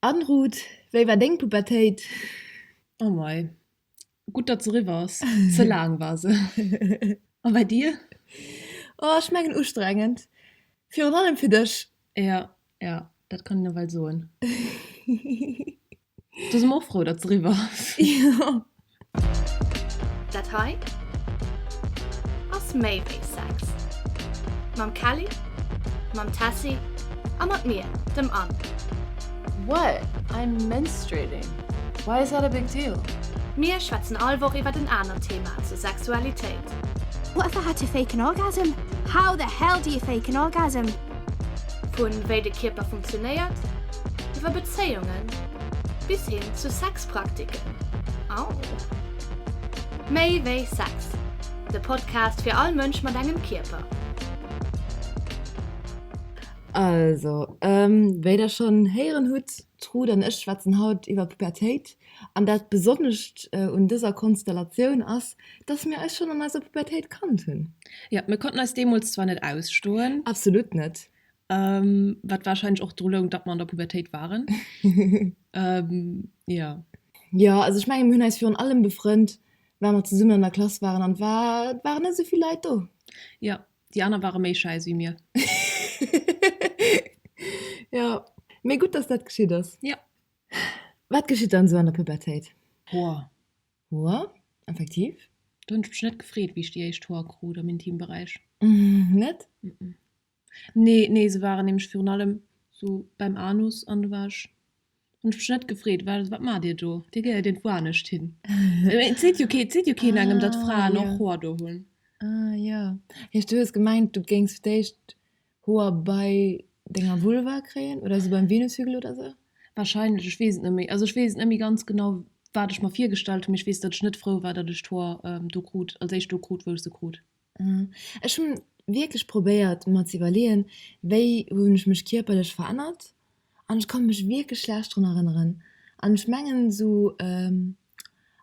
Anne Roth, Wéi war deng Pubertéit? Oh mei, gutt datt se eriwwer ass, ze laang war se. A bei dir? Oh ech mengen ustrengend, virun allem fir dech. Jo, jo, dat kann een nawell soen. Do si mer och frou, datt se eriwwer ass. Dat hei ass méi wéi Sex. Mam Kelly, mam Tessy a mat mir, dem Anne. What? I'm menstruating. Why is that a big deal? Mir schwätzen all Woch iwwert en anert Thema zur Sexualitéit. What if I had to fake an orgasm? How the hell do you fake an orgasm? Vu wéi de Kierper funktionéiert, iwwer Bezéiungen bis hin zu Sex. Praktiken. Au. Méi wéi Sex, de Podcast fir all Mënsch mat engem Kierper. Also, ähm, wéi der schonn héieren hutt, d'Ruth an ech schwätzen haut iwwer Pubertéit. An dat Besonnescht äh, un dëser Konstellatioun ass, dass mir eis schonn an eiser Pubertéit kannt hunn. Ja, mir konnten eis deemools zwar net ausstoen. Absolut net. Wat wahrscheinlech och dru loung, datt mer an der Pubertéit waren. Jo. Jo, also ech menge mir hunn eis virun allem befrënnt, well mer zesummen an der Klass waren an et war, et waren net esou vill Leit do. Jo, déi aner ware méi schäiss wéi mir. Jo, mee gutt, datt dat geschitt ass. Jo. Wat geschitt dann esou an der Pubertéit? Boah, Hoer, effektiv. Do hunn ech mech net gefreet, wéi ech déi éischt Hoer krut am Intimberäich. Net? Nee, nee, se waren nämlech virun allem sou beim Anus an do war ech, hunn ech mech net gefreet, well wat maacht Dir do? Dir gehéiert iergendwou anescht hin. Et seet jo keen, et seet jo keen engem, datt Fraen och Hoer do hunn. Ah, jo. Heescht, du hues gemengt, du géings fir d'éischt Hoer bei denger Vulva kréien oder se beim Venushügel oder sou? Wahrscheinlech, ech weess et net méi. Also ech weess et net méi ganz genau wat ech mer virgestallt hunn, mee ech weess datt ech net frou war datt ech d'Hoer do krut, als éischt do krut wou ech se krut. Ech hunn wierklech probéiert mer ze iwwerleeën wéi hunn ech mech kierperlech verännert an ech kann mech wierklech schlecht drun erënneren an ech mengen sou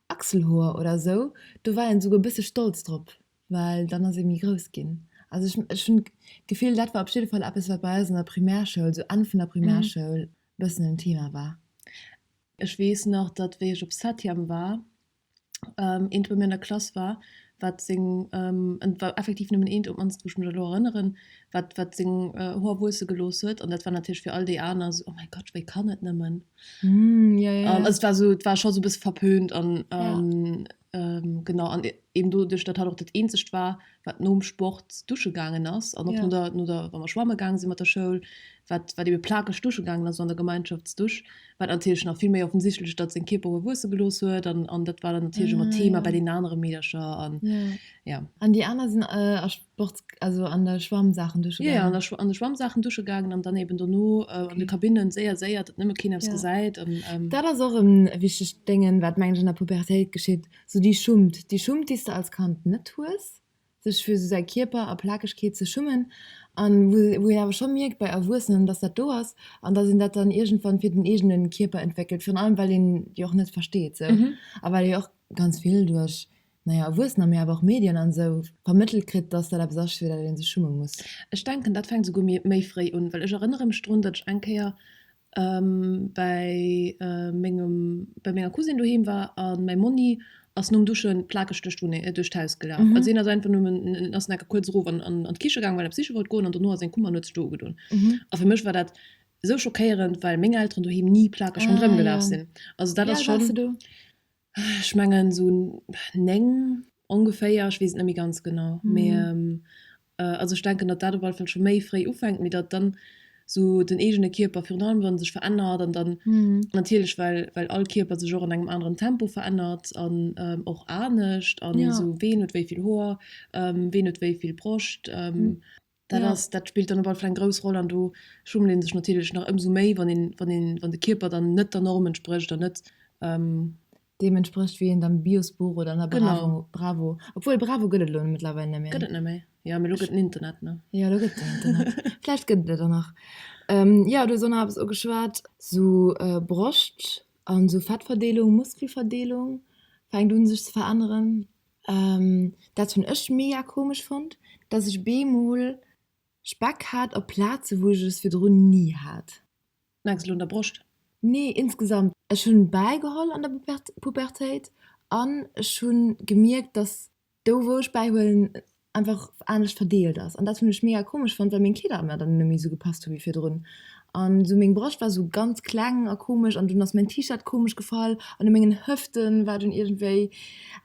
Achselhoer oder sou do war een souguer bësse stolz drop. well dann ass ee méi grouss ginn. Also ech, ech hunn d'Gefill, dat war op jidde Fall eppes, wat bei eis an der Primärschoul, sou Enn vun der Primärschoul, e bëssen en Thema war. Ech weess nach, datt, wéi ech op Septième war, eent bei mir an der Klass war, wat seng, et war effektiv nëmmen eent, op d'mannst wou ech mech elo erënneren, wat, wat seng Hoer wuesse gelooss huet. An dat war natierlech fir all déi aner esou, oh mäi Gott, wéi kann et nëmmen? Also et war scho sou e bësse verpönt. An. Genau an eben do duerch dat hat och dat eenzegt war wat nom Sport dusche gaangen ass an ja. der, no der wann man schwamme gaangen sinn mat der Schoul wat wat ebe plakeg dusche gaangen ass an der Gemeinschaftsdusch wat antilch nach vill méi offensichtlech dat sinn Kiper wuesse gelos huet an an dat war dann antilch ah, mat Thema ja. bei den anere Meedercher an ja. ja. An déi aner sinn äh, Sports, also an der Schwammsaachen dusche gaangen? Jo, jo, an de Schwammsaachen dusche gaangen an dann eben dono an de Kabinnen, séier, séier, datt nëmme keen eppes gesäit. Dat ass och e wichtegt Déngen, wat mengen ech an der Pubertéit geschitt, sou déi Schummt, déi Schummt, déi s de als Kand net hues, sech fir esou säi Kierper a Plakegkeet ze schummen an wou een awer scho mierkt bei Erwuessenen, datt dat do ass an datt een dat dann iergendwann fir den eegene Kierper entwéckelt, virun allem well een déi och net versteet sou a well ee jo och ganz vill duerch na ja, Erwuessener, mee awer och Medien an esou, vermëttelt kritt, dass dat eppes ass, fir dat ee sech schumme muss. Ech denken, dat fänkt esouguer méi fréi un, well ech erënnere mech drun, datt ech eng Kéier bäi mengem, bäi menger Cousine doheem war a mäi Monni ass nom Duschen plakeg duerch d'Wunneng, duerch d'Haus gelaf. Also hien ass einfach nom, en ass enke kuerz erof an d'Kiche gaangen, well en eppes siche wollt goen, an dono ass en komm an huet sech do ugedoen. A fir mech war dat esou schockéierend, well meng Elteren doheem ni plakeg ronderëm gelaf sinn. Also dat ass schonn. Wéi al wars de do? Ech mengen esou 9 ongeféier, ech weess et net méi ganz genau. Mee also ech denken, datt dat op alle Fall scho méi fréi ufänkt, mee datt dann esou den eegene Kierper virun allem wa sech verännert an dann natierlech well well all Kierper sech och an engem aneren Tempo verännert an och anescht an esou ween huet wéi vill Hoer, ween huet wéi vill Broscht. Dat ja. ass, dat spillt dann op alle Fall eng grouss Roll an do schummelt ee sech natierlech nach ëmsou méi, wann een, wann een, wann de Kierper dann net der Norm entsprécht an net, ähm, deem entsprécht, wéi een am Biosbuch oder an der Bravo, genau. Bravo, obwuel Bravo gëtt et elo mëttlerweil net méi. Gëtt et net méi? Jo, mee elo gëtt den Internet, ne? Jo, elo gëtt den Internet. Vläicht gëtt et et och nach. Ähm, jo, du hues och nach eppes ugeschwat, sou äh, Broscht an sou Fettverdeelung, Muskelverdeelung fänkt un sech ze veränneren. Dat hunn ech mega komesch fonnt, dass ech op eemol Speck hat op Plaze wou ech es virdrun ni hat. Mengs elo un der Broscht? Nee, insgesamt. Ech hunn bäigeholl an der Pubertéit an ech hunn gemierkt dass do wou ech bäihuelen einfach anescht verdeelt ass an dat hunn ech mega komesch fonnt well meng Kleeder mer dann net méi esou gepasst hu wéi virdrun an esou meng Broscht war esou ganz kleng a komesch an dunn ass mäin T-Shirt komesch gefall an u mengen Hëfte war dunn iergendwéi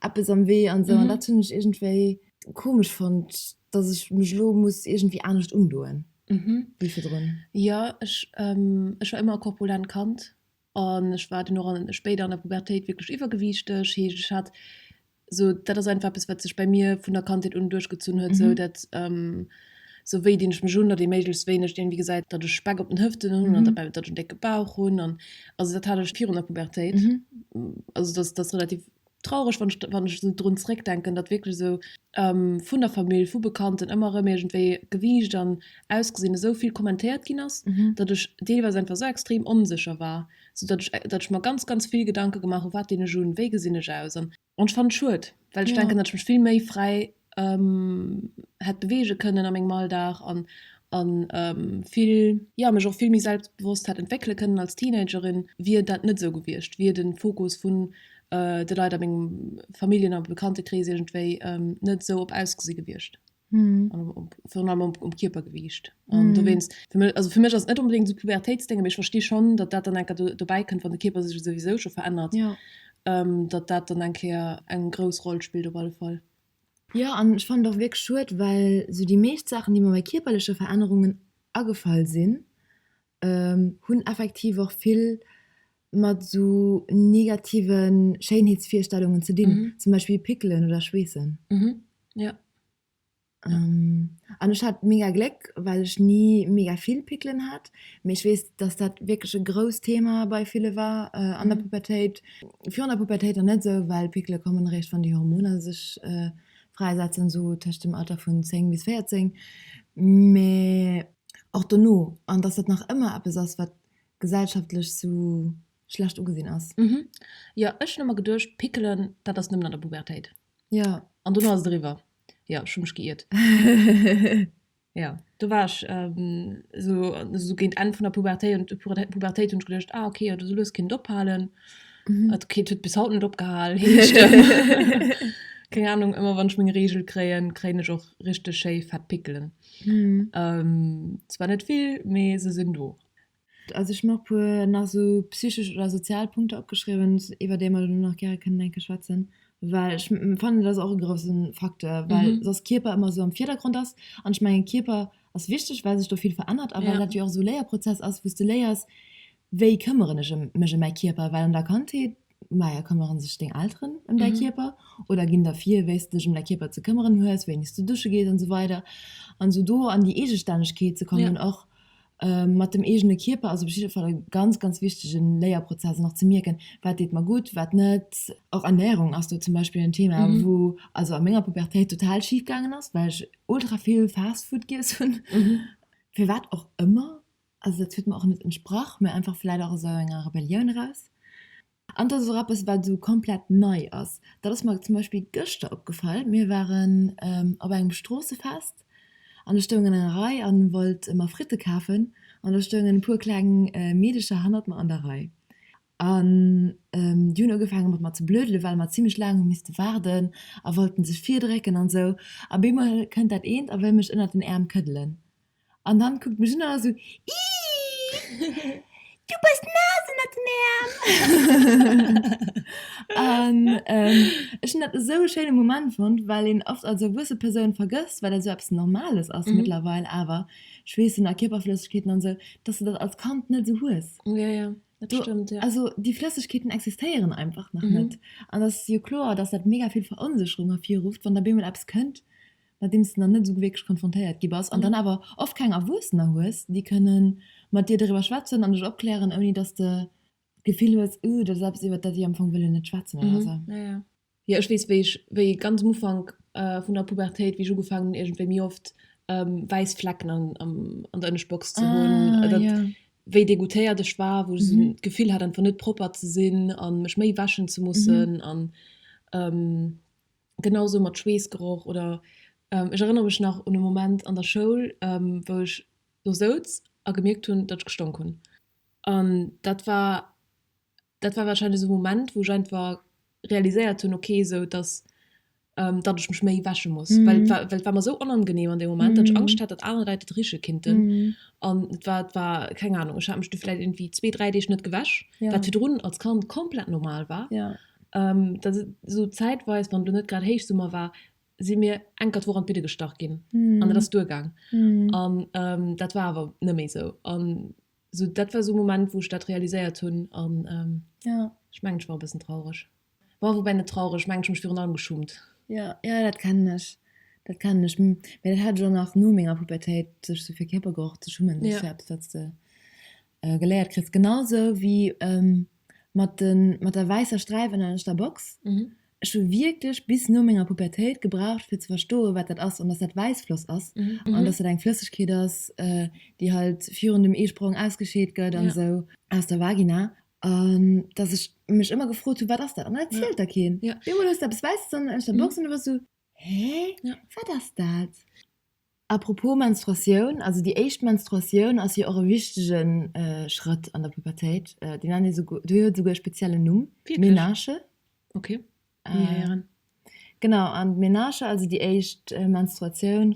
eppes am Wee an esou an dat hunn ech iergendwéi komesch fonnt dass ech mech elo muss iergendwéi anescht undoen wéi virdrun. Jo ech war ëmmer e korpulent Kand An ech war dunn och an, spéider an der Pubertéit wierklech iwwergewiichteg. Heescht, ech hat esou, dat ass einfach eppes, wat sech bei mir vun der Kandheet un duerchgezunn huet, esou dat, esou wéi dinn ech mech un, datt ee méiglechst wéineg iergendwéi gesäit, datt ech Speck op den Hëften hunn an datt ech en décke Bauch hunn. An also dat hat ech virun der Pubertéit, also datt datt relativ traureg wann ech wann ech esou drun zréck denken datt wierklech esou vun der Famill vu Bekannten ëmmer erëm iergendwéi Gewiicht an Ausgesinn esou vill kommentéiert ginn ass, datt ech deelweis einfach esou extrem onsécher war, sou datt ech datt ech mer ganz ganz vill Gedanke gemaach hu wat dinn ech un, wéi gesinn ech aus an ech fannen et schued well ech denken datt ech mech vill méi fräi hätt beweege kënnen a mengem Alldag an an vill jo mech och vill méi selbstbewosst hätt entwéckele kënnen als Teenagerin, wier dat net esou gewiescht, wier den Fokus vun de Leit a mengem Familljen a Bekanntekrees iergendwéi net esou op ausgesi gewiescht an op virun allem op op Kierpergewiicht an dowéinst fir mech also fir mech ass et net onbedéngt esou e Pubertéitsdéngen, mee ech versti schonn, datt dat dann enker do dobäi kënnt, wann de Kierper sech souwisou scho verännert, datt dat dann eng Kéier eng grouss Roll spillt op alle Fall. Jo an ech fannen et och wierklech schued, well sou déi meescht Saachen déi mer bei kierperleche Verännerungen agefall sinn hunn effektiv och vill mat sou negative Schéinheetsvirstellungen ze dinn, zum Beispill Pickelen oder Schweessen. An ech hat mega Gléck, well ech ni mega vill Pickelen hat, mee ech weess, dass dat wierklech e grousst Thema bei ville war an der Pubertéit, Virun der Pubertéit dann net esou, well Pickele kommen eréischt, wann déi Hormoner sech fräisetzen, esou tëscht dem Alter vun 10 bis 14, mee och dono, an dass dat nach ëmmer eppes ass, wat gesellschaftlech esou schlecht ugesinn ass. Mhm. Jo, ech hunn ëmmer geduecht, Pickelen, dat ass nëmmen an der Pubertéit. Jo. An dono ass et eriwwer. Jo, ech hu mech geiert. Jo, do war ech esou esou géint Enn vun der Pubertéit und Pubertéit Pubertéit hunn ech geduecht, ah okay jo do soll lues Kind ophalen. Mhm. Et Kind huet bis haut net opgehal. Keng Ahnung, ëmmer wann ech meng Regel kréien, kréien ech och richteg schéi fett Pickelen. Mhm. Ähm, zwar net vill, mee se sinn do. Also ech hun och puer nach esou psychesch oder sozial Punkter opgeschriwen, iwwer déi mer elo nach gäre kënnen enke schwätzen, well ech fannen dat ass och e grousse Facteur, well soss Kierper ëmmer esou am Virdergrond ass. An ech mengen Kierper ass wichteg, well sech do vill verännert a well dat jo och esou e Léierprozess ass, wou s de léiers, wéi këmmeren ech mech ëm mäi Kierper, well an der Kandheet Maja, këmmere sech deng Elteren ëm däi Kierper oder ginn der vir, wéi s de dech ëm däi Kierper ze këmmeren hues, wéini s de dusche gees an esou weider an esou do an déi Eegestännegkeet ze kommen. Ja. Och mat dem eegene Kierper ass op jidde Fall e ganz, ganz wichtege Léierprozess an och ze mierken, wat deet mer gutt, wat net. Och Ernärung ass do zum Beispill en Thema, wou also a menger Pubertéit total schif gaangen ass, well ech ultra vill Fast Food giess hunn, firwat och ëmmer. Also dat huet mer och net entsprach, mä einfach vläit och aus esou enger Rebellioun eraus. An et ass och eppes, wat esou komplett nei ass. Dat ass mer zum Beispill gëschter opgefall, Mir waren op engem Stroossefest an ech stoung an enger Rei a wollt mer Fritte kafen an da stoungen e puer kleng Meedercher hannert mer an der Rei. An déi hunn ugefaange mat mer ze blödele well mer zimmlech laang hu misste waarden a wollten sech virdrécken an esou. Op eemol kënnt dat eent a wëll mech ënnert den Äerm këddelen. An dann kuckt mech un an ass esou, Iiih, du bass naass ënnert den Äerm! An ech hunn dat esou e schéine Moment fonnt, well een oft als erwuesse Persoun vergësst, well dat esou eppes Normales ass mëttlerweil, awer Schweessen a Kierperflëssegkeeten an esou, dass du dat als Kand net esou hues. Jo, jo, dat stëmmt, jo. Also déi Flëssegkeeten existéieren einfach nach net. An et ass jo kloer, dass dat mega vill Veronsécherung ervirrufft, wann da beemol eppes kënnt, Nodeems de nach net esou wierklech konfrontéiert gi bass an dann awer oft keng Erwuessener hues, déi kënnen mat dir doriwwer schwätzen an dech opklären, ouni dass de d'Gefill hues, uh, dat ass eppes, iwwert dat ech am Fong wëll jo net schwätzen oder esou. Jo, ech weess, wéi ech, wéi ganz um Ufank vun der Pubertéit, wéi ech ugefaangen hunn, iergendwéi méi oft wäiss Flecken an der Ënneschtbox ze hunn, wéi degoûtéiert ech war, wou ech d'Gefill hat, einfach net propper ze sinn a mech méi wäschen ze mussen. Genau esou mat Schweessgeroch oder ech erënnere mech nach un e Moment an der Schoul, wou ech do souz a gemierkt hunn, datt ech gestonk hunn. An dat war, dat war warscheinlech esou e Moment, wou ech einfach realiséiert hunn, ok, esou datt, datt ech mech méi wäsche muss, well et war mer esou onangenehm an deem Moment, datt ech Angscht hat, datt aner Leit et riche kinnten. An et war, et war, keng Anung, ech hat mech do vläicht irgendwie zwee, dräi Deeg net gewäsch, wat virdrun als Kand komplett normal war. Dat esou zäitweis, wann do net grad Héichsummer war, si mir enker d'Woch an d'Bidde gestach ginn an et ass duergaang. An dat war awer net méi esou. An esou dat war esou e Moment, wou ech dat realiséiert hunn an ech mengen, ech war e bëssen traureg. Bon, woubäi net traureg, ech mengen, ech hu mech virun allem geschummt. Jo, jo, dat kennen ech. Dat kennen ech. Mee dat hat ech och nach no menger Pubertéit, sech esou fir Kierpergeroch ze schummen. Dat ass jo eppes, wat s de. Geléiert kriss, genau sou wéi mat der wäisser Sträif an der ënneschter Box. Ech hu wierklech bis no menger Pubertéit gebraucht, fir ze verstoen, wat dat ass an dass dat Wäissfloss ass an dass dat eng Flëssegkeet ass, déi halt virun dem Eesprong ausgescheet gëtt an esou aus der Vagina. An dass ech mech ëmmer gefrot hu, wat ass dat? An dat zielt der keen. Bemol hues de eppes Wäisses an der ënneschter Box an du bass esou, Hä? Wat ass dat? A propos Menstruatioun, also déi éischt Menstruatioun ass jo och e wichtege Schrëtt an der Pubertéit, déi nennt ee souguer, déi huet souguer e speziellen Numm, d'Ménarche. Genau, an d'Ménarche, also déi éischt Menstruatioun,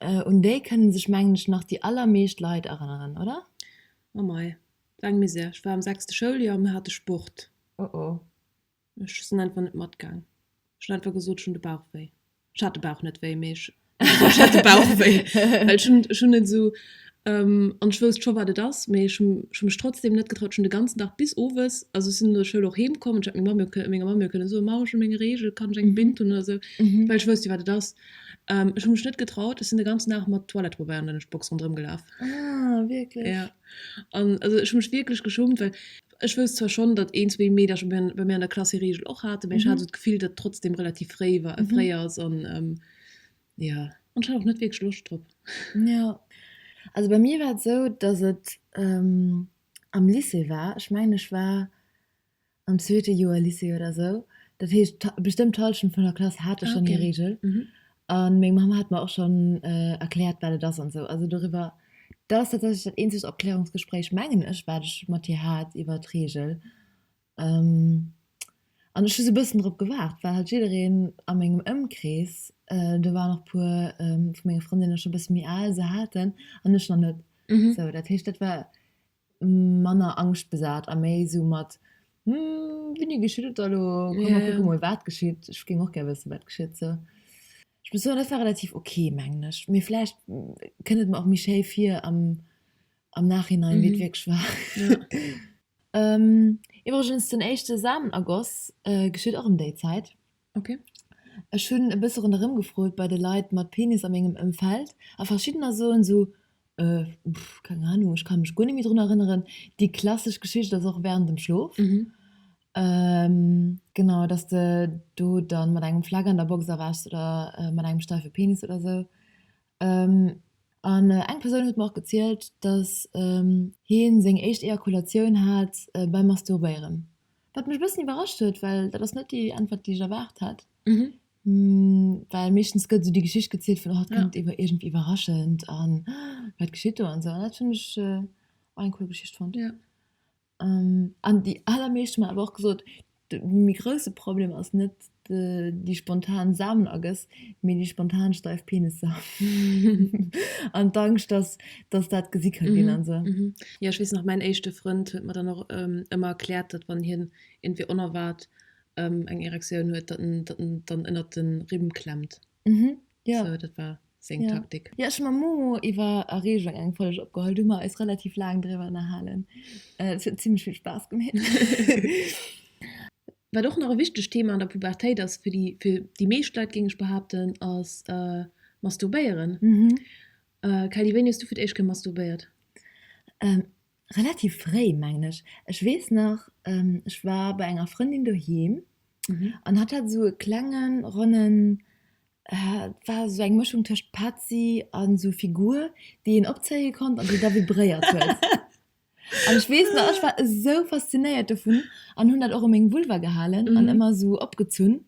un déi kënne sech mengen ech nach déi allermeescht Leit erënneren, oder? Oh mei, wat eng Misär, ech war am sechste Schouljoer a mir hate Sport. Oh oh. Ech sinn einfach net matgaang. Ech hunn einfach gesot, ech hunn de Bauch wéi. Ech hat de Bauch net wéi, mee ech, ech hat de Bauch wéi. Well ech hunn, ech hunn net esou, an ech wousst scho wat et ass, mee ech hunn, ech hunn mech trotzdem net getraut. Ech hunn de ganzen Dag bis owes, also ech sinn no der Schoul och heem komm an ech hat meng Mamm jo kënnen, menger Mamm jo kënnen soen, Mamm, ech hu meng Regel, kann ech eng Binn hunn oder esou, well ech wousst jo wat et ass. Ech hu mech net getraut. Ech sinn de ganzen Dag mat Toilettepabeier an der Lunchbox ronderëm gelaf. Ah, wierklech? Jo. An also ech hu mech wierklech geschummt, well Ech wousst zwar schonn, datt een, zwee Meedercher bei mir an der Klass hir Reegel och haten, mee ech hat esou d'Gefill, datt et trotzdem relativ fréi war, fréi ass an jo. An ech hat och net wierklech Loscht drop. Jo, also bei mir war et esou, datt et am Lycée war. Ech mengen, ech war am zweete Joer Lycée oder esou. Dat heescht, bestëmmt d'Hallschent vun der Klass hate schonn hir Reegel. A meng Mamm hat mer och schonn erkläert, wat et ass an esou. Also doriwwer, dat ass tatsächlech dat eenzegt Opklärungsgespréich, mengen ech, wat ech mat hir hat iwwer d'Reegel. An ech hu sou e bëssen drop gewaart, well halt jiddereen a mengem Ëmkrees, do waren och e puer vu menge Frëndinne scho e bësse méi al, se haten an ech nach net. Sou, dat heescht, dat war manner angschtbesat a méi esou mat Hm, wéini geschitt et da lo? Komm, mir kucke mol, wat geschitt. Ech géing och gär wëssen, wat geschitt sou. Ech muss soen, dat war relativ ok, mengen ech. Mee vläicht kënnt et mer och méi schéi vir am, am Nachhinein, wéi et wierklech war. Iwwregens, den éischte Samen agoss geschitt och ëm déi Zäit. Ok. Ech hunn e bësse ronderëm gefrot bei de Leit mat Penis a mengem Ëmfeld a verschiddener soen sou, Äh, pff, keng Ahnung, ech ka mech guer net méi drun erënneren. Déi klassesch Geschicht ass och während dem Schlof. Genau, dass de do da mat engem Fleck an der Box erwächs oder mat engem steife Penis oder sou. An eng Persoun huet mer och gezielt, dass hien seng éischt Ejakulatioun hat beim Masturbéieren. Wat mech e bëssen iwwerrascht huet, well dat ass net déi Äntwert, déi ech erwaart hat. Well meeschtens gëtt esou déi Geschicht gezielt vun, dat kënnt iergendwéi iwwerraschend an wat geschitt do an esou. An dat hunn ech och eng cool Geschicht fonnt. An déi allermeescht hu mer awer och gesot, de méi grousse Problem ass net déi spontan Samenergëss, mee déi spontan steif Penisser an d'Angscht, datt dat gesi ka ginn an esou. Jo, ech weess nach, mäin éischte Frënd huet mer dann och ëmmer erkläert, datt wann hien iergendwéi onerwaart eng Erektioun huet, datt en dann ënnert de Rimm klemmt. Mhm. Ja. So, dat war seng ja. Taktik. Ja, ech mam Momo iwwer Erregung eng Folge opgeholl. Du mer eis relativ laang drwer nahalen. Äh, es huet ziemlich viel Spaß gemeet. Wat och nach e wichteg Thema an der Pubertéit ass, fir déi, fir déi meescht Leit, géing ech behaupten, ass äh, Masturbéieren. Mhm. Äh, Kelly, wéini hues du fir d'éischt kë masturbéiert? Ähm, Relativ fréi, mengen ech. Ech weess nach, ech war bei enger Frëndin doheem an hatt hat esou e klengen, ronnen, war esou eng Mëschung tëscht Patzi a esou Figur, déi een opzéie konnt an déi da vibréiert huet. An ech weess nach, ech war esou faszinéiert dovun an hunn dat och u meng Vulva gehalen an ëmmer esou opgezunn,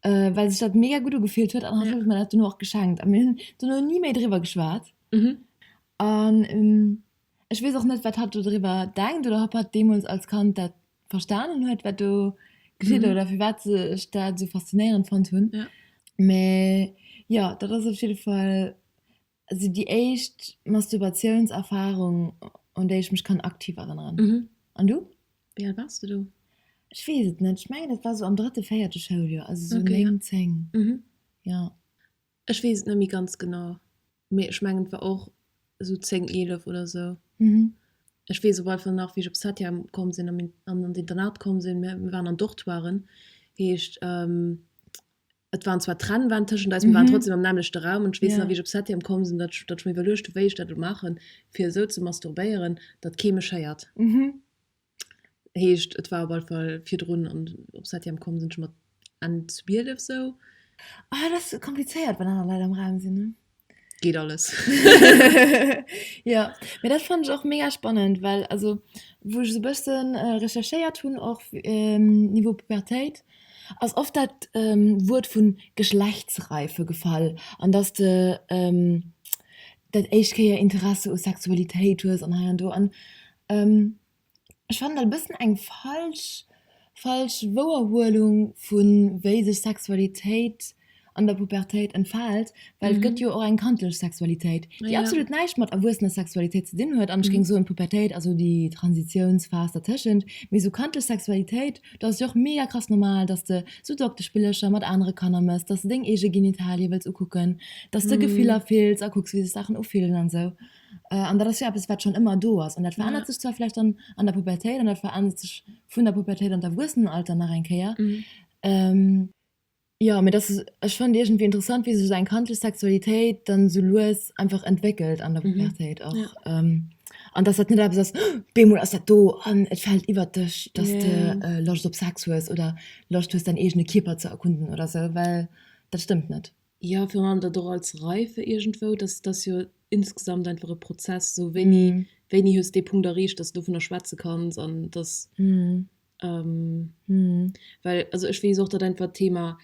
well sech dat mega gutt ugefillt huet. An hatt huet mir dat duerno och geschenkt a mir hunn duerno ni méi driwwer geschwat. Ech weess och net, wat hatt do driwwer denkt oder ob hatt deemools als Kand dat verstanen huet, wat do geschitt mhm. oder fir wat se ech dat so faszinéierend fand hunn. Ja. Mä ja, dat ass op jeden Fall also déi éischt Masturbationserfahrung an déi ech mech kann aktiv erinnern. Mhm. An du? Wie alt warst du do? Ech weess et net. Ech mengen dat war so am drëtte, véierte Schouljoer, also so okay, 9, ja. 10. Mhm. Ja. Ech wees et net méi ganz genau, mee ech mengen et war och esou 10, 11 oder esou. Ech wees op alle Fall nach wéi ech op Satya komm sin an an d'Internat komm sin, mir mir waren an Dortoiren, heescht et waren zwar Trennwänn teschend eis, mir waren trotzdem am nämmlechte Raum, an ech wees nach wéi ech op Satya komm sin, datt datt ech mir iwwerluecht hun wéi ech dat elo maachen fir esou ze masturbéieren datt kee mech héiert. Heescht et war op alle Fall virdrun an op Septième komm sinn ech mat Enn 12 sou. Ah et ass komplizéiert wann aner Leit am Raum sinn ne. Geet alles. Jo mee dat fannen ech och mega spannend well also wou ech sou bëssen recherchéiert hunn och niveau Pubertéit ass oft dat Wuert vun Geschlechtsreife gefall an dass de dat éischt Kéier Interesse u Sexualitéit hues an hei an do an Ech fannen dat e bëssen eng falsch, falsch Wouerhuelung vun wéi sech Sexualitéit an der Pubertéit entfaalt, well et gëtt jo och eng kandlech Sexualitéit, déi absolut näischt mat erwuessener Sexualitéit ze dinn huet an ech géing soen, d'Pubertéit ass esou déi Transitiounsphas dertëschent. Mee esou kandlech Sexualitéit, dat ass jo och mega krass normal, dass de esou Dokteschspillercher mat anere Kanner méchs, dass de deng eege Genitalie wëlls ukucken, dass de Gefiller fills a kucks, wéi sech Saachen ufillen an esou. An dat ass jo eppes, wat schonn ëmmer do ass. An dat verännert sech zwar vläicht dann an der Pubertéit an dat verännert sech vun der Pubertéit an d'Erwuessenenalter nach eng Kéier. Jo, mee dat, ech fënnt iergendwéi interessant, wéi sech esou eng kandlech Sexualitéit dann esou lues einfach entwéckelt an der Pubertéit och. An dass dat net eppes ass, op eemol ass dat do an et fält iwwert dech, dass de Loscht op Sex hues oder Loscht hues, däin eegene Kierper ze erkunden oder esou, well dat stëmmt net. Jo, virun allem dat och als Reife iergendwou, dass et ass jo insgesamt einfach e Prozess, esou wéini, wéini hues dee Punkt erreecht, dass s du dovunner schwätze kanns an dass, well also ech weess och, datt einfach d'Thema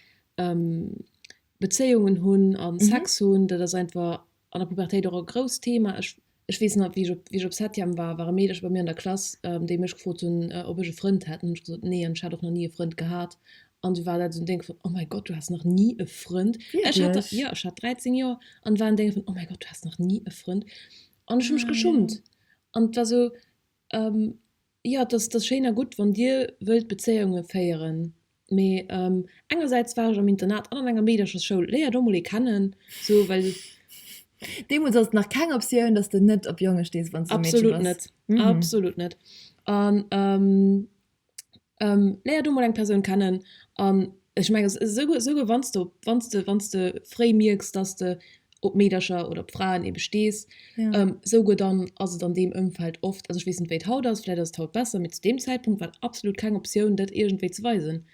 Bezéiungen hunn a Sex hunn, dat ass einfach An der Pubertéit och e grousst Thema. Ech ech weess nach, wéi ech op wéi ech op Septième war, war e Meederche bei mir an der Klass, déi mech gefrot hunn, ob ech e Frënd hätt. An hunn ech gesot, nee, an ech hat och nach ni e Frënd gehat. An du war dat esou en Déng vun, oh mäi Gott, du has nach ni e Frënd. Ech hat da, Wierklech? jo, ech hat 13 Joer an war en Déng vun, oh mäi Gott, du has nach ni e Frënd. An ech hu mech geschummt. An et war esou, Jo, et ass schéin a gutt, wann Dir wëllt Bezéiunge féieren, mee engersäits war ech am Internat an an enger Meederchesschoul. Léier do mol ee kennen. Deemools ass et nach keng Optioun, dass de net op Jonge stees, wann s de e Meedche bass. Absolut net, absolut net. An léier do mol eng Persoun kennen an Ech mengen, esouguer wann s de, wann s de, wann s de fréi mierks, dass s de op Meedercher oder op Fraen ebe stees, esouguer dann ass et an deem Ëmfeld oft, also ech weess net, wéi et haut ass, vläicht ass et haut besser, mee zu deem Zäitpunkt war et absolut keng Optioun, dat iergendwéi ze weisen.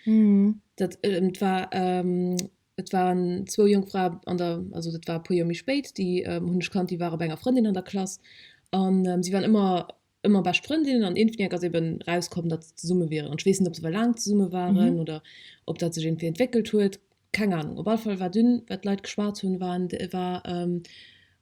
Dat, et war, et waren zwou jonk Fraen an der, also dat war e puer Joer méi spéit, déi hunn ech kannt, déi waren bei enger Frëndin an der Klass an si waren ëmmer, Ëmmer bescht Frëndinnen an Infiniak ass eben rauskomm, datt se zesumme wieren. An ech weess net, ob se ewell laang zesumme waren oder ob dat sech iergendwéi entwéckelt huet. Keng Anung. Op alle Fall war dunn, wat d'Leit geschwat hunn, war, war,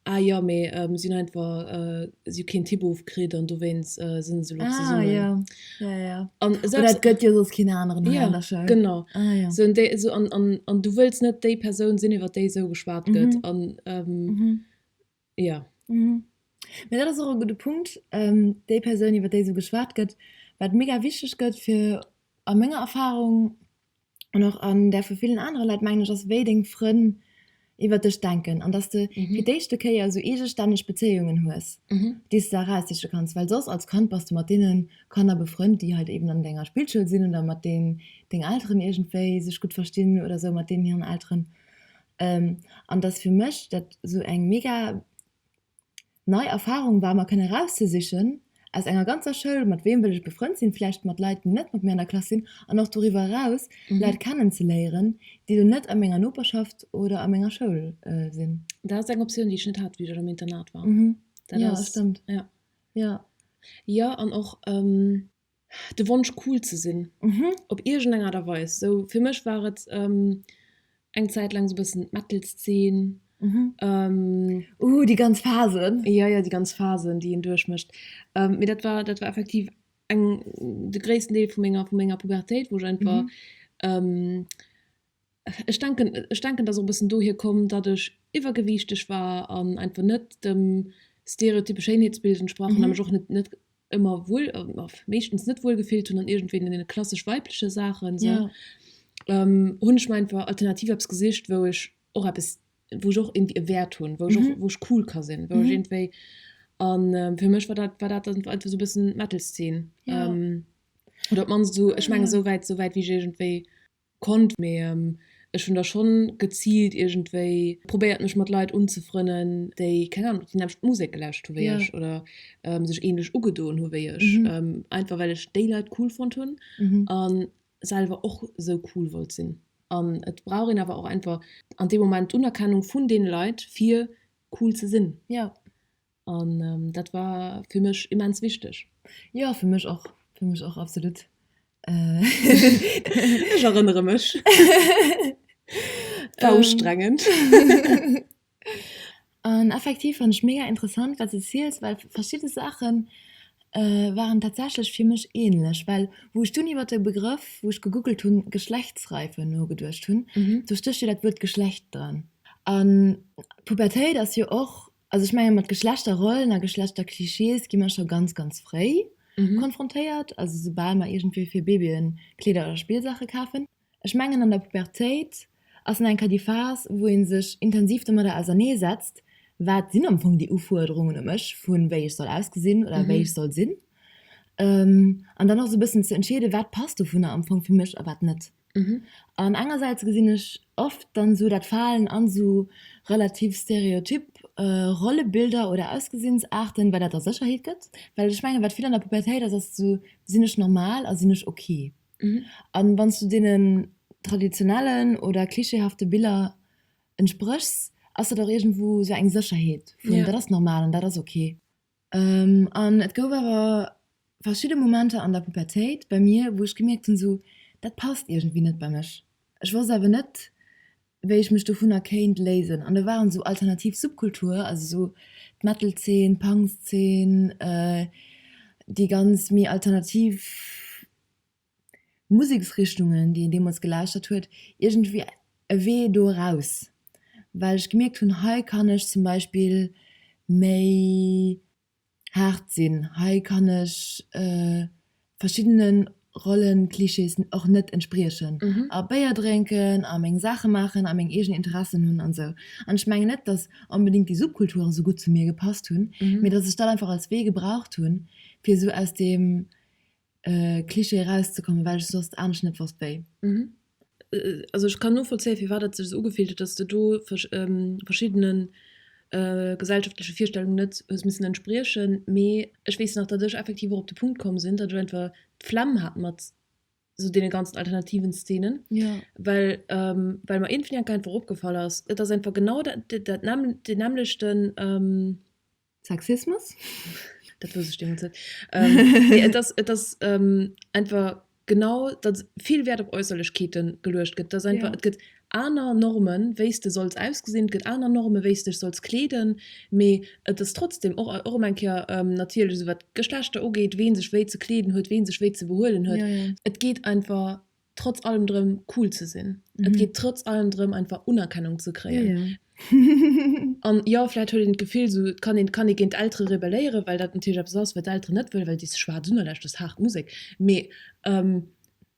Ah jo, mee mir sinn einfach, si hu keen Typ ofkritt an dowéinst sinn se elo zesumme. Ah jo, jo, jo. Oder et gëtt jo soss keen aneren hei an der Schoul. Jo, genau. Ah jo. Sou an déi, sou an, an du wëlls net déi Persoun sinn, iwwer déi esou geschwat gëtt. An Jo. Mhm. Mee dat ass och e gudde Punkt. Déi Persoun, iwwer déi esou geschwat gëtt, wat mega wichteg gëtt fir, a menger Erfarung an och an där vu villen anere Leit, mengen ech, ass, wéi deng Frënn iwwer dech denken. An dass de fir d'éischte Kéier esou eegestänneg Bezéiungen hues, déi s de eraussiche kanns. Well soss als Kand bass de mat deene Kanner befrënnt, déi halt eben an denger Spillschoul sinn oder mat deenen deng Elteren iergendwéi sech gutt verstinn oder esou mat deenen hiren Elteren. An dass fir mech dat sou eng mega nei Erfahrung war mer kënne rauszesichen aus enger ganzer Schoul, mat weem wëll ech befrënnt sinn, vläicht mat Leit, déi net mat mir an der Klass sinn, an och doriwwer eraus Leit kennen ze léieren, déi elo net a menger Noperschaft oder a menger Schoul sinn. Dat ass eng Optioun, déi ech net hat, wéi ech am Internat war. Dat ass. Jo, stëmmt. Jo. Jo, an och. de Wonsch cool ze sinn op iergend eng Aart a Weis. Sou fir mech war et eng Zäit laang sou bëssen d'Metal Szen. Déi ganz Phasen. Jo jo, déi ganz Phasen déi een duerch mécht. Mee dat war dat war effektiv eng de gréissten Deel vu menger vu menger Pubertéit wou ech einfach Ech denken, ech denken, dass och e bëssen dohier koum, datt ech iwwergewiichteg war an einfach net dem stereotyppe Schéinheetsbild entsprach hunn a mech och net, net ëmmer wuel, meeschtens net wuel gefillt hunn an iergendwéi deene klassesch weibleche Saachen esou, hunn ech mer einfach alternativ eppes gesicht, wou ech och eppes, wou ech och iergendwéi e Wäert hunn, wou ech och, wou ech cool ka sinn, wou ech iergendwéi. A fir mech war dat, war dat dann einfach esou e bëssen d'Metal-Zeen oder op d'mannst esou, ech mengen esouwäit, esouwäit wéi ech iergendwéi. Konnt, mee ech hunn da schonn geziilt iergendwéi probéiert mech mat Leit unzefrënnen, déi, keng Ahnung, déi nämmlecht Musek gelauscht hu wéi ech oder sech ähnlech ugedoen hu wéi ech, einfach well ech déi Leit cool fonnt hunn a selwer och sou cool wollt sinn. An et brauch een awer och einfach an deem Moment d'Unerkennung vun deene Leit fir cool ze sinn. An dat war fir mech immens wichteg. Jo fir mech och, fir mech och absolut. Ech erënnere mech. War ustrengend. An effektiv fannt ech mega interessant wat s de ziels, well verschidde Saache waren tatsächlech fir mech ähnlech. Well wou ech dunn iwwert de Begrëff, wou ech gegoogelt hunn, Geschlechtsreife nogeduecht hunn, do stécht jo dat Wuert Geschlecht dran. An d'Pubertéit ass jo och Also ech menge mat Geschlechterrollen a Geschlechterclichés gi mer scho ganz, ganz fréi mhm. konfrontéiert, also soubal mer iergendwéi fir Babyen Kleeder oder Spillsaache kafen. Ech mengen an der Pubertéit ass en enker déi Phas, wou ee sech intensiv domadder ausernee setzt, wat sinn am Fong déi Ufuerderungen u mech, vu wéi ech soll ausgesinn oder mhm. wéi ech soll sinn. An ähm, dann och sou bëssen ze entscheede wat passt dovunner am Fong fir mech a wat net. An engersäits gesinn ech oft dann esou dat Falen an esou relativ stereotyp Rollebilder oder Ausgesinnsarten, wat dat der Sécherheet gëtt. Well ech mengen wat vill an der Pubertéit ass, ass esou, sinn ech normal a sinn ech ok? An wann s du deenen traditionellen oder klischeehafte Biller entspréchs, ass dat och iergendwou esou eng Sécherheet vun dat ass normal an dat ass ok. An et gouf awer verschidde Momenter an der Pubertéit bei mir, wou ech gemierkt hunn, esou, dat passt iergendwéi net bei mech. Ech wosst awer net, wéi ech mech dovunner kéint léisen. An da waren esou alternativ Subkulture, also esou d'Metal-Zeen, d'Punk-Zeen, déi ganz méi alternativ Museksrichtungen, déi een deemools gelauschtert huet, iergendwéi e Wee do eraus, well ech gemierkt hunn, hei kann ech zum Beispill méi haart sinn, hei kann ech verschiddene Rollenclichés och net entspriechen a Béier drénken a meng Saache maachen a meng eegen Interessen hunn an esou. An ech mengen net, datt onbedéngt déi Subkulturen esou gutt zu mir gepasst hunn, mee datt ech dat einfach als Wee gebraucht hunn, fir esou aus deem Cliché erauszekommen, well ech soss anescht net wosst wéi. Also ech kann novollzéien, firwat et sech esou ugefillt huet, dass de do verschiddene gesellschaftleche Virstellungen net hues missen entspriechen. Mee ech weess nach, datt ech effektiv och op de Punkt komm sinn, datt ech einfach d'Flemm hat mat esou deene ganzen alternativen Szenen, well well mer iergendwéi enk einfach opgefall ass, et ass einfach genau dat nämmlechten. Sexismus? Dat wosst ech deemools net. Ähm, nee, et ass, et ass ähm, einfach genau, datt vill Wäert op Äusserlechkeeten geluecht gëtt. Datt einfach, Ja. et gëtt aner Normen, wéi s de solls ausgesinn, et gëtt aner Normen, wéi s dech solls kleeden, mee et ass trotzdem och, och erëm eng Kéier, ähm, natierlech esou wat d'Geschlechter ugeet, ween sech wéi ze kleeden huet, ween sech wéi ze behuelen huet. Ja, ja. Et geet einfach trotz allem drëm cool ze sinn. Mm. Et mhm. geet trotz allem drëm einfach Unerkennung ze kréien. Ja, ja. an ja vielleicht huet den Gefill so kann den kann gegen ältere rebellieren weil dat natürlich ab sonst wird älter nicht will weil die schwarz Sonne lässt das hart Musik me ähm,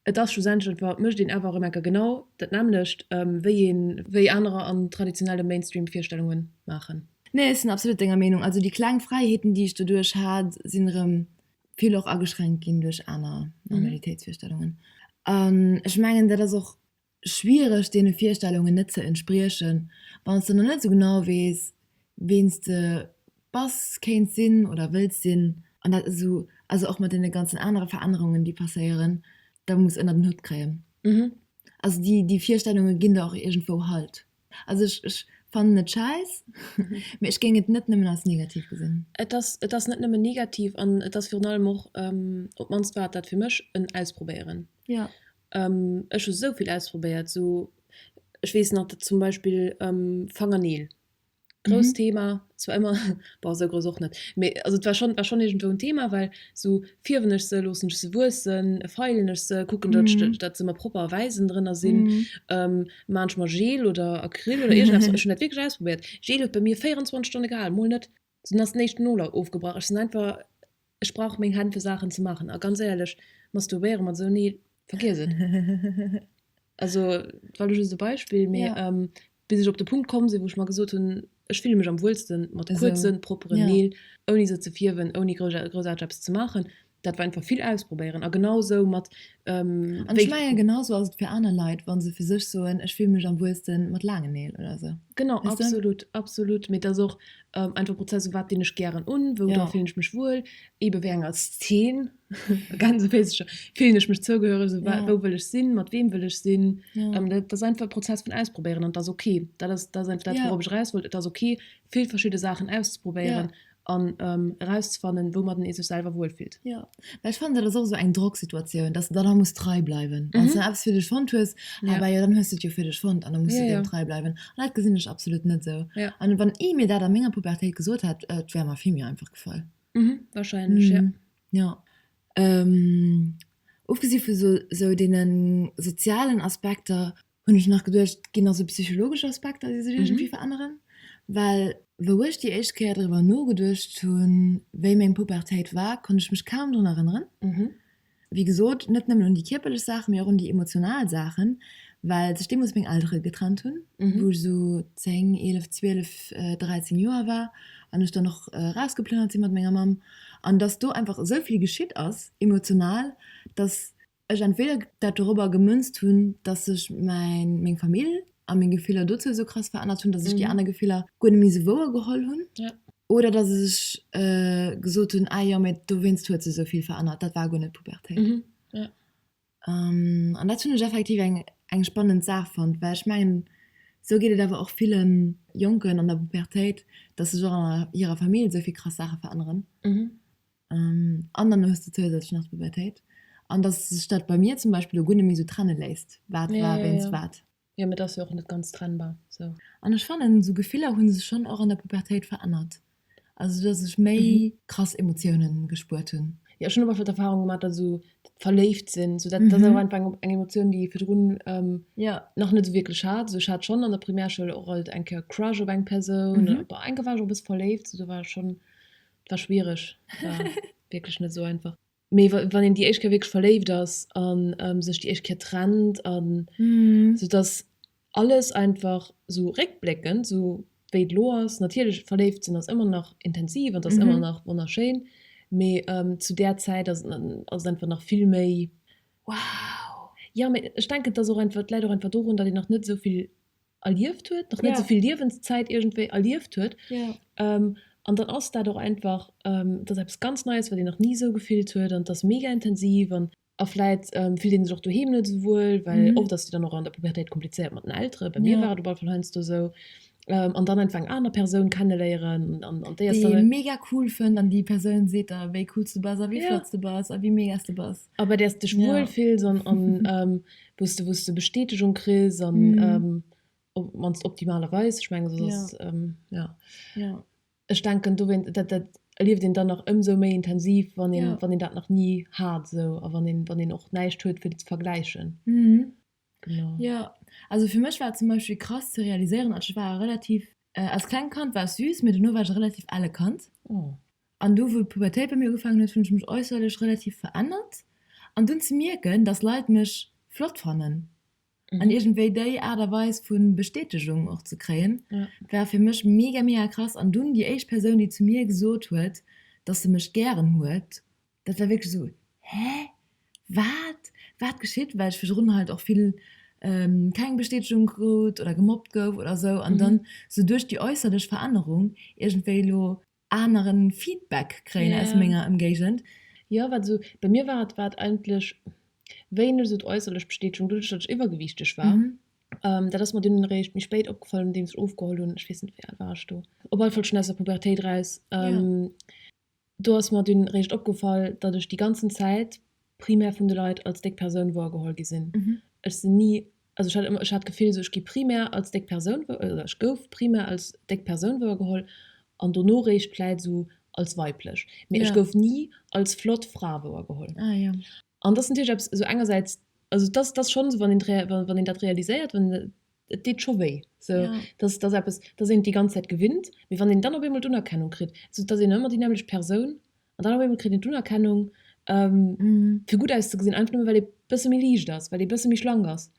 Et ass schlussendlich war mech den awer Remecker genau dat nämlecht ähm, wéi een wéi anerer an traditionelle Mainstream-Virstellungen machen. Nee, ich sind absolut denger Meinung. Also die kleng Freiheeten, die ich dadurch hat, sinn rem vill och ageschränkt ginn duerch aner Normalitéitsvirstellungen. An ech mengen, dat ass och schwiereg, deene Virstellungen net ze entspriechen, wann s de nach net esou genau weess, ween s de bass, kéints sinn oder wëlls sinn. An dat ass esou, also och mat deene ganzen anere Verännerungen, déi passéieren, da muss ënnert en Hutt kréien. Also déi Virstellunge ginn der och iergendwou Halt. Also ech, ech fannen et schäiss, mee ech géing et net nëmmen als negativ gesinn. Et ass, et ass net nëmmen negativ an et ass virun allem och, op d'mannst war et dat fir mech, en Ausprobéieren. Jo. Ech hu souvill ausprobéiert, sou, ech weess nach, zum Beispill Fangerneel. Grousst Thema, zwar ëmmer, bon esou grouss och net, mee also et war schonn, et war schonn iergendwou en Thema, well esou fierwen ech se, loossen ech se wuessen, feilen ech se, kucken, datt ech, datt se mer propper a wäiss ënnendrënner sinn, maan ech mer Gel oder Acryl oder iergendeppes, ech hunn dat wierklech ausprobéiert, Gel huet bei mir 24 Stonne gehal, mol net, dunn ass den éischten Nol ofgebrach, ech sinn einfach Ech brauch meng Hänn fir Saachen ze maachen, a ganz éierlech, masturbéiere mat esou, nee, vergiess et. Also, et war elo just e Beispill, mee bis ech op de Punkt komm sinn, wou ech mer gesot hunn, ech fille mech am wuelste mat kuerzen, propperen Neel, ouni se ze fierwen, ouni groussarteg eppes ze maachen, dat war einfach vill ausprobéieren. A genau esou mat An ech mengen genau sou ass et fir aner Leit wann se fir sech soen ech fille mech am wuelsten mat laangen Neel oder esou. Genau absolut absolut mee et ass och einfach e Prozess wat dinn ech gären un wou dra fillen ech mech wuel eebe wéi enger Szen fillen ech mech zougehöreg esou wat wou wëll ech sinn mat weem wëll ech sinn dat ass einfach e Prozess vun ausprobéieren an et ass ok dat ass dat ass einfach dat wourauf ech eraus wollt et ass ok vill verschidde Saachen auszeprobéieren an erauszefannen, wou mat en ee sech selwer wuel fillt. Jo, mä ech fannen dat ass och esou eng Drocksituatioun, dass de dann nach muss trei bleiwen. Wann s de dann eppes fir dech fonnt hues, ah bah jo, dann hues de et jo fir dech fonnt an da muss de deem trei bleiwen. An dat gesinn ech absolut net esou. An wann ee mir dat a menger Pubertéit gesot hätt, et wär mer vill méi einfach gefall. Wahrscheinlech, jo. Jo. Ofgesi vu sou deene sozialen Aspekter Hunn ech nach geduecht, ginn ass e psychologesche Aspekt, datt ee sech iergendwéi veränneren. Well wou ech déi éischt Kéier driwwer nogeduecht hunn, wéi meng Pubertéit war, konnt ech mech kaum drun erënneren. Wéi gesot, net nëmmen un déi kierperlech Saachen, mee och un déi emotional Saachen, well sech deemools meng Eltere getrennt hunn, wou ech esou 10, 11, 12, 13 Joer war an ech dann och erausgeplënnert sinn mat menger Mamm. An datt do einfach esou vill geschitt ass emotional, datt. ech entweder dat dorobber gemënzt hunn, dass sech mäin, meng Famill a meng Gefiller dozou esou krass verännert hunn, dass ech déi aner Gefiller guer net méi esou wouer geholl hunn, oder dass ech gesot hunn, ah jo, mä dowéinst huet se esou vill verännert, dat war guer net d'Pubertéit. An dat hunn ech effektiv eng spannend Saach fonnt, well ech mengen, esou geet et awer och ville Jonken an der Pubertéit, dass sech och an hirer Famill esou vill krass Saache veränneren. An dann hues de zousätzlech nach d'Pubertéit. An dass sech dat bei mir zum Beispill elo guer net méi esou trenne léisst, wat war wéinst wat. Jo, mee et ass jo och net ganz trennbar esou. An ech fannen, esou Gefiller hu sech schonn och an der Pubertéit verännert. Also dass ech méi krass Emotiounen gespuert hunn. Jo, ech hunn och oft d'Erfarung gemaach, dass esou dat Verléiftsinn, esou dat ass awer einfach eng Emotioun, déi ee virdrun nach net esou wierklech hat. Also ech hat schonn an der Primärschoul och alt eng Kéier e Crush op eng Persoun, oder war enke war ech och e bësse verléift. Do war ech schonn war schwierig wirklich net so einfach mee wann een die Eichke wirklich verléift ass an ähm, sech die Eichke trennt an mm. so dass alles einfach so rückblickend so wéi lo ass natürlich verléift sinn ass immer nach intensiv an das mm -hmm. immer nach wunderschön mee ähm, zu der Zeit ass einfach nach viel méi wow ja, ich denke dass auch einfach leider einfach darum dass ich nach net soviel erlieft huet, nach net souvill Liewenszäit iergendwéi erlieft huet. An dann ass dat och einfach, et ass eppes ganz Neies, wat een nach ni esou gefillt huet an et ass mega intensiv. A vläit fillt een sech och doheem net esou wuel, well oft ass et jo dann och an der Pubertéit komplizéiert mat den Elteren, bei mir war et op alle Fall heiansdo esou. An dann einfach eng aner Persoun kenneléieren an déi ass dann. Déi ee mega cool fënnt an déi Persoun seet der, wéi cool s de bass a wéi flott s de bass a wéi mega s de bass. A bei där s de dech wuel ja. fills an, an ähm, wou du, wou du Bestätegung kriss an mm. ähm, op, mannst optimalerweis. Ech menge ja. Ähm, ja. ja. Ech denken do wenn, dat, dat erlieft den dann nach ëmsou méi intensiv, wann den, ja. wann den dat nach nie hat so a wann den, wann den och näischt huet fir ze vergläichen. Mm. Genau. Jo, also fir mech war et zum Beispill krass ze realiséieren, also ech war relativ, als klengt Kand war ech süß, mee duerno war ech e relativ elle Kand. Oh. An du, wou d'Pubertéit bei mir ugefaangen huet, hunn ech mech äusserlech relativ verännert. An dunn ze mierken, dass Leit mech flott fannen an iergendwéi déi Aart a Weis vu Bestätegung och ze kréien, Ja. war fir mech mega, mega krass. An dunn déi éischt Persoun, déi zu mir gesot huet, dass se mech gären huet, Dat war wierklech esou, Hä? Wat? Wat geschitt? Well ech virdrun halt och vill keng Bestätegung krut oder gemobbt gouf oder esou. An dann esou duerch déi äusserlech Verännerung iergendwéi elo anere Feedback kréien aus menger Ëmgéigend. Jo, wat esou, bei mir war et, wat eigentlech wéineg esou d'äusserlech Bestätegung, doduerch datt ech iwwergewiichteg war. Dat ass mer dunn eréischt méi spéit opgefall, nodeems ech ofgeholl hunn. Ech weess net, wéi al war ech do? Op alle Fall schonn aus der Pubertéit eraus. Do ass mer dunn réischt opgefall, datt ech déi ganzen Zäit primär vun de Leit als déck Persoun woergeholl gi sinn. Ech sinn ni, also ech hat ëmmer, ech hat d'Gefill, esou ech gi primär als déck Persoun, oder ech gouf primär als déck Persoun woergeholl an dono réischt vläit esou als weiblech, mee ech gouf ni als flott Fra woergeholl. An dass natierlech eppes esou engersäits, also et ass, et ass schonn esou, wann een, wann een dat realiséiert, wann een, et deet scho wéi, esou, dass, dass eppes, dass een et déi ganz Zäit gewinnt, mee wann een dann op eemol d'Unerkennung kritt, esou dass een ëmmer déi nämmlecht Persoun an dann op eemol kritt een d'Unerkennung, fir gutt auszegesinn, einfach nëmme well ee bësse méi liicht ass, well ee bësse méi schlank ass.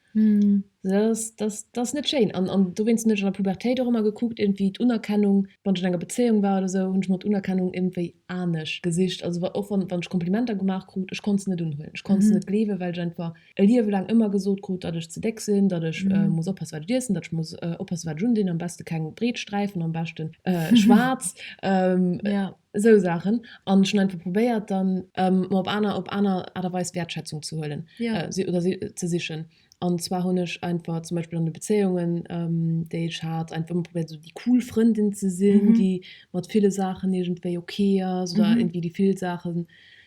Dat ass net schéin an dowéinst hunn ech an der Pubertéit och ëmmer gekuckt irgendwie d'Unerkennung, wann ech an enger Bezéiung war oder esou, hunn ech mer d'Unerkennung iergendwéi anesch gesicht. Also wa och wann ech Komplimenter gemaach krut, ech konnt se net unhuelen, ech konnt se net gleewen, well ech einfach e Liewe laang ëmmer gesot krut, datt ech ze déck sinn, datt ech muss oppasse wat ech iessen, datt ech muss oppasse wat ech undinn, am beschte keng breet Sträifen, am beschten schwaarz. Esou Saachen. An ech hunn einfach probéiert dann. Mer op aner op aner Aart a Weis Wäertschätzung ze huelen oder si ze sichen. An zwar hunn ech einfach zum Beispill an de Bezéiungen, déi ech hat, einfach ëmmer probéiert esou déi cool Frëndin ze sinn, déi mat ville Saachen iergendwéi okay ass oder irgendwie déi vill Saachen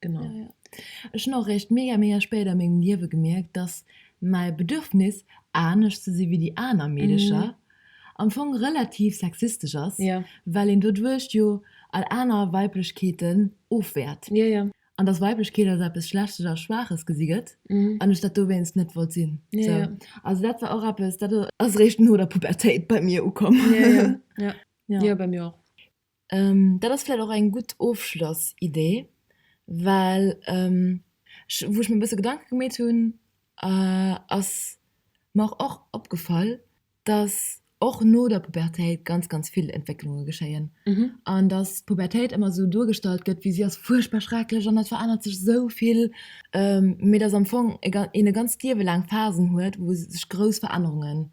Genau. Ja, ja. Ech hun och réischt mega mega spéit a mengem Liewe gemierkt, dass mäi Bedürfnis, anescht ze si wéi déi aner Meedecher, mm. am Fong relativ sexistesch ass, ja. well een doduerch jo all aner Weiblechkeeten ofwäert. Ja, ja. An dass Weiblechkeet als eppes Schlechtes a Schwaaches gesi gëtt, mm. an ech dat dowéinst net wollt sinn. Ja, so. ja. Also dat war och eppes, dat ass réischt no der Pubertéit bei mir ukomm. Ja, ja. ja. ja. ja bei mir och. Dat ass vläicht och eng gutt Ofschlossidee, well ech, wou ech mir e bësse Gedanke gemeet hunn, ass mer och opgefall, datt och no der Pubertéit ganz, ganz vill Entwécklunge geschéien an datt d'Pubertéit ëmmer esou duergestallt gëtt, wéi si ass fuerchtbar schrecklech an et verännert sech esou vill, mee datt am Fong een e ganzt Liewe laang Phasen huet, wou sech grouss Verännerungen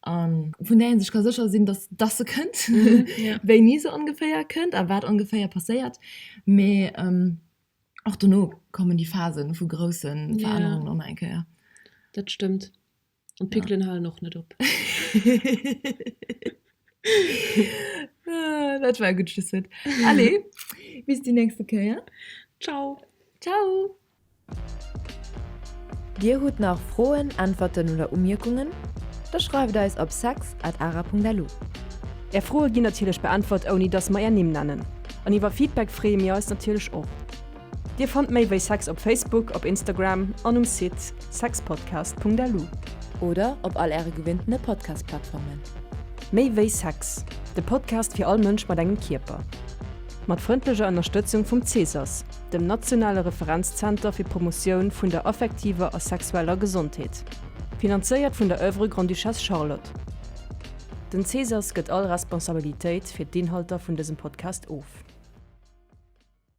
an vun der sech ka secher sinn, dass dass se kënnt wéini se ongeféier kënnt a wat ongeféier passéiert mé ähm, och duno kommen die Phasen vu groussen Verännerungen yeah. eng Kéier. Dat stëmmt an Pikelen ja. halen och net op. Ah, dat war gut Schlusswort. Allez, bis die nächste Kéier. Ciao. Ciao. Dir hutt nach Froen, Äntwerten oder Umierkungen? Da schreift eis op sex at ara Punkt lu. Är Froe ginn natierlech beäntwert ouni dass mer är Nimm nennen. An iwwer Feedback freeë mir eis natierlech och. Dir fannt méi wéi sex op Facebook, op Instagram an um Site sexpodcast Punkt lu. Oder op all äre gewinnten Podcast Plattformen. Méi wéi sex, de Podcast fir all Mënsch mat engem Kierper. Mat frëndleger Ënnerstëtzung vum Cesas. dem nationale Referenzzenter fir d'Promotioun vun der affektiver a sexueller Gesondheet, finanzéiert vun der Oeuvre Grande-Duchesse Charlotte. Den CSAS gëtt all Responsabilitéit fir d'Inhalter vun dësem Podcast of.